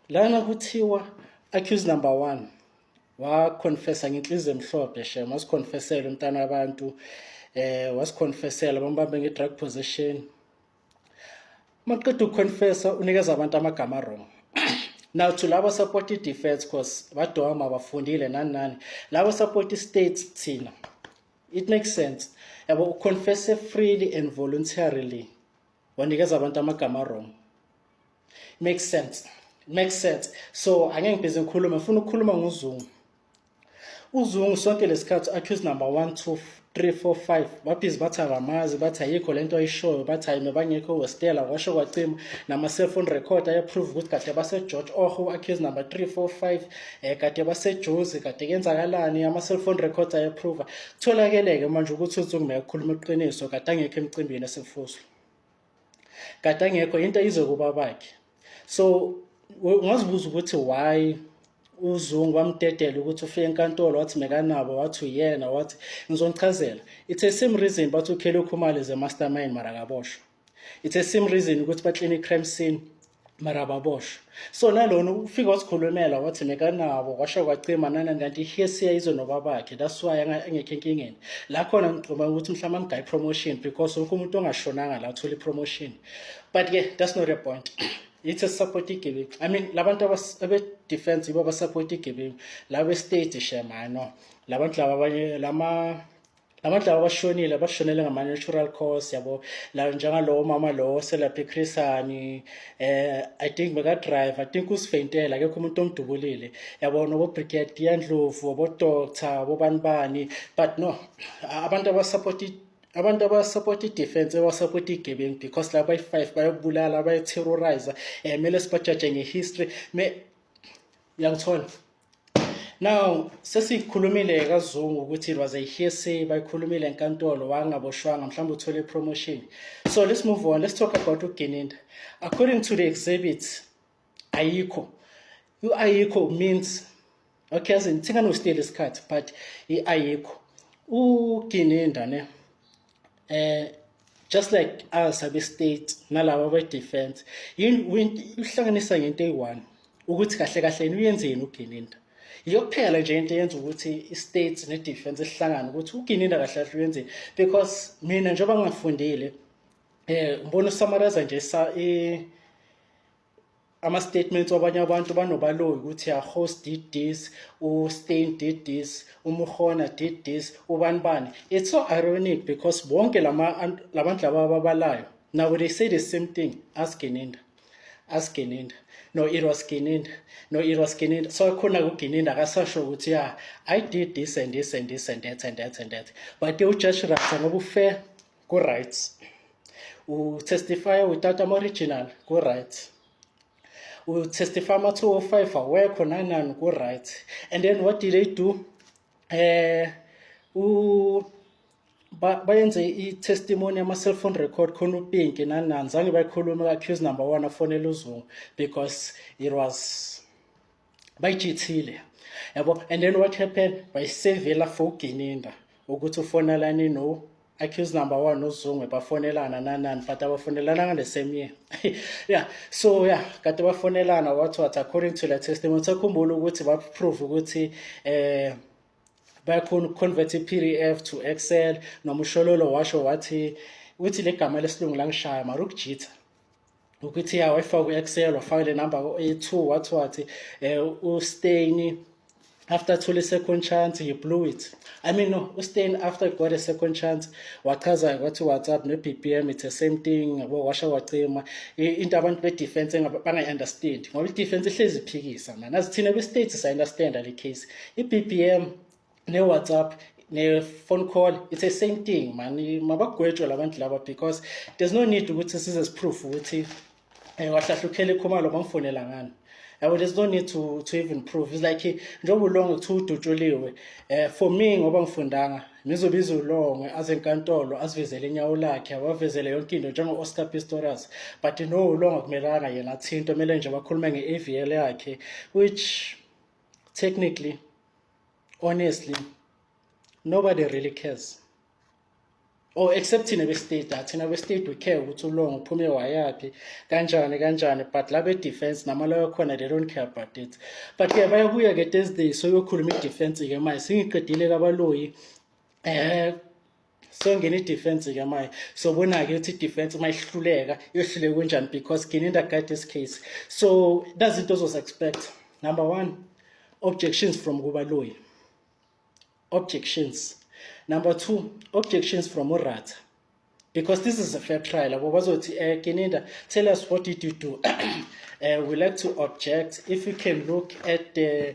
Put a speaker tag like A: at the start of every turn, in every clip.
A: lana kuthiwa accuse number one wakhonfesa ngenhliziyo emhlophe shem wasikhonfesela umntana wabantu eh wasikhonfesela bambambe nge-drug position maqeda ukuconfessa unikeza abantu amagama wrong now to labo support i-defense cause badoma bafundile nani nani labo support i-states thina it makes sense yabo uconfesse freely and voluntarily wanikeza abantu amagama wrong makes sense makes sense so angeke ngibhizi ngikhulume ngifuna ukukhuluma ngozungu uzungu sonke lesikhathi accuse number 1 2 3 4 5 babhizi bathi akamazi bathi ayikho lento ayishoyo bathi ayime bangekho westela washo kwacima nama cell phone record ayaprove ukuthi kade base George Oho accuse number 3 4 5 eh kade base Jozi kade kenzakalani ama cell phone records ayaprove tholakeleke manje ukuthi uzungu mayekhuluma iqiniso kade angekho emcimbini esefuswa kade angekho into izokuba bakhe so ungazibuza ukuthi why uzungu wamdedela ukuthi ufike enkantolo wathi mekanabo wathi uyena wathi ngizonichazela it's a same reason bathi ukhele ukhumali ze mastermind mara kaboshwa it's a same reason ukuthi baklini crime scene mara ababoshwa so nalona ufika wasikhulumela wathi mekanabo kwasho kwacima nanani kanti ihesiya izwe nobabakhe that's why angekho enkingeni la khona ngigcuma ukuthi mhlawumbe amgayi promotion because wonke umuntu ongashonanga la uthola i-promotion but ke that's not a point yithi esisapota igebengu i mean labantu abedefense yibo abasapota igebengu laba estate shema no labantu laba abanye lama abantu laba abashonile abashonele ngama-natural cause yabo la njengalowo mama lowo selapha ichrisani um eh, i think bekadrive i think usifeyintela akekho umuntu omdubulile yabo nobobrigadier ndlovu obodoctor obobani bani but no abantu abasapota abantu abasapota i-defense abasapota igebengu because laba bayi-five bayokubulala bayoterroriza um eh, kumele sibajaje nge-history me uyangithola Now sesikhulumile kaZungu ukuthi it was a hearsay bayikhulumile enkantolo wangaboshwanga mhlawumbe uthole promotion. So let's move on. Let's talk about uGininda. According to the exhibits ayikho. U-ayikho means okay as in thinganosteal isikhathi but i-ayikho. UGininda ne eh just like us abe state nalabo be defense uhlanganisa ngento eyi-one ukuthi kahle kahle yini uyenzeni ugininda iyokuphela nje into yenza ukuthi i-state ne-defense ihlangane ukuthi ugininda kahle kahle uyenzeni because mina njengoba ngingafundile um eh, ngibona usamaraza nje ama-statements wabanye abantu banobaloyi ukuthi ahost did this ustain did this umurhona did this ubani bani it's so ironic because bonke la bantu laba ababalayo now they say the same thing ask geninda ask geninda no it was geninda no it was geninda so khona kugeninda akasasho ukuthi ya i did this and this and this and that and that and that but ujudge rata ngoba ufair ku-right utestifya without ama-original ku-right utestifya ama-two o oh five awekho nanani ku-right and then what did they do eh u bayenze i-testimony yama-cellphone record khona upinki nanani zange bayikhulume u-accuse number one afonele uzungu because it was bayijithile yabo and then what happened bayisevela for ugininda ukuthi ufonelani no accuse number one nozungwe bafonelana nanani but abafonelana ngale same year yeah so yeah kade bafonelana what what according to the testimony sakhumbula ukuthi baprove ukuthi eh bayakhona ukuconvert i-pdf to excel noma ushololo washo wathi uthi le gama lesilungu langishaya mara ukujitha ukuthi ya wayifaka ku-excel wafaka le number ku-a2 wathi wathi um usteyni after thole second chance you blew it i mean no ustain after got a second chance wachaza kwathi whatsapp ne-bbm it's the same thing yabo washa wacima into abantu be-defense bangayi-understand ngoba i-defense ihlezi iphikisa mani azithina kwi-states sa-understanda le case i-bbm ne-whatsapp ne-phone call it's the same thing mani mabagwetshwe labantu laba because there's no need ukuthi size siproof ukuthi um wahlahla ukhele khumalo bamfonela ngani yabo there's no need to, to even prove it's like njengoba ulonge kuthiwa udutshuliwe um for me ngoba ngifundanga ngizobiza ulonge aze enkantolo asivezele inyawo lakhe awavezele yonke into njengo-oscar pistorius but no ulonge kumelanga yena athinto kumele nje bakhulume nge-avl yakhe which technically honestly nobody really cares or oh, except thina bestate ah, thina bestate we care ukuthi ulongo uphume wayaphi kanjani kanjani but la be-defense namalayo khona they don't care about it but ke bayabuya ke thursday soyokhuluma i-defense-ke manje singiqedile kabaloyi um eh, songena idefense ke manje sobona-ke ukuthi idefense uma ihluleka yohluleka kunjani because gini in the guide this case so that's into ozozi expect number one objections from kubaloyi objections number two objections from urata because this is a fair trial abo bazothi um eh, gininda tell us what did you do uh, we like to object if you can look at the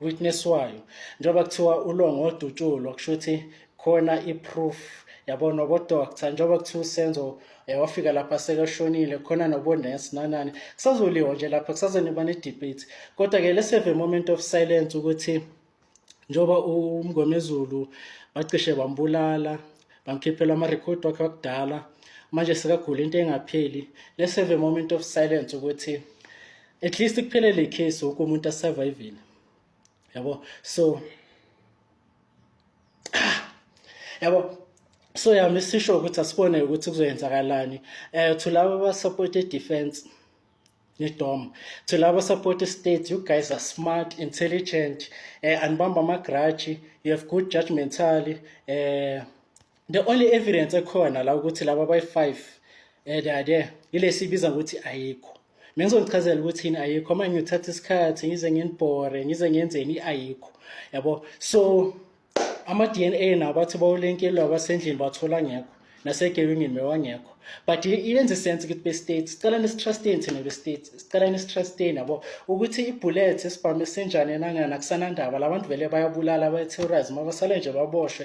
A: witnesswayo njengoba kuthiwa ulongo odutshulwa kusho ukuthi khona i-proof yabona obodoctor njengoba kuthiwa usenzo eh, wafika lapha sekashonile khona nobonesi nanani kusazoliwa nje lapha kusazoniba ne-debate kodwa-ke let's have a moment of silence ukuthi njengoba umngomezulu bacishe bambulala bamkhiphela amarekhodi wakhe wakudala manje sekagula into engapheli let's have a moment of silence ukuthi at least kuphele le case wonke umuntu asurvivile yabo so yabo so yami sisho ukuthi asibone ukuthi kuzoyenzakalani eh to labo ba support defense nedom to labo support state you guys are smart intelligent eh anibamba ama grudge you have good judgmentally eh the only evidence ekhona la ukuthi laba bayi-five um they are there ilesi ibiza ngokuthi ayikho mina ngizonichazela ukuthi yini ayikho manje ngiyothatha isikhathi ngize nginibhore ngize ngenzeni i-ayikho yabo so ama-d n a nawo bathi bawulenkelwa abasendlini bathola ngekho nasegebengini bewangekho but iyenza isense ukuthi be-state sicela nesitrusteni thina be-state sicela nesitrusteni yabo ukuthi ibhulet esibhamu esinjani enangana kusanandaba la bantu vele bayabulala bayi-terrorism abasale nje baboshwe